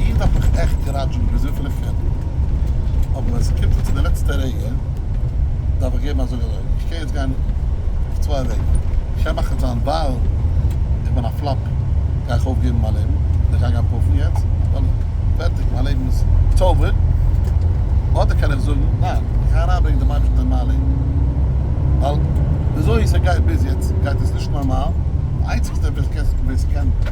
איר דארפט מיך עכט געראטשען געווען אזוי פילע פערדל, אבער ווען ס'קומט זיך צו די לעצטע רגע דארף איך געבן א זאג אזוי, איך קען יעצט גיין אויף צוויי וועגן, איך קען מאכן זיין ווייל איך בין א פלאפ גיי איך אויפגעבן מיין לעבן און איך גיי גיין פאפן יעצט ווייל פערטיג מיין לעבן איז איטס אווער, אדער קען איך זאגן ניין איך גיי אריינברענגען דעם אייבערשטן אין מיין לעבן ווייל וויאזוי ס'גייט ביז יעצט גייט עס נישט נארמאל, די איינציגסטע ווער ס'קען.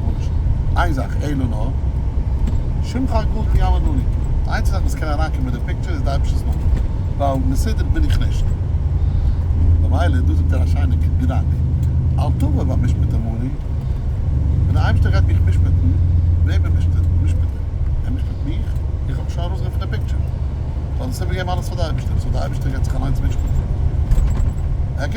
גארנישט. איין זאך, אלא נא, שמך הגדול כי יעמוד מולי. די איינציגסטע זאך וואס קען אריינקומען אין די פיקטשער איז די אייבערשטער'ס נאמען, ווייל מסודר בין איך נישט. ממילא דא זאגט ער א שיינע געדאנק, אל תבא והמשפט אמוני, ווען דער אייבערשטער גייט מיך משפט'ן, וועמען מוזט איר משפט'ן? ער משפט מיך? איך האב מיך שוין ארויסגענומען פון די פיקטשער. איך האב דאס איבערגעגעבן אלעס פאר די אייבערשטער, סאו די אייבערשטער גייט זיך אליינס משפט'ן.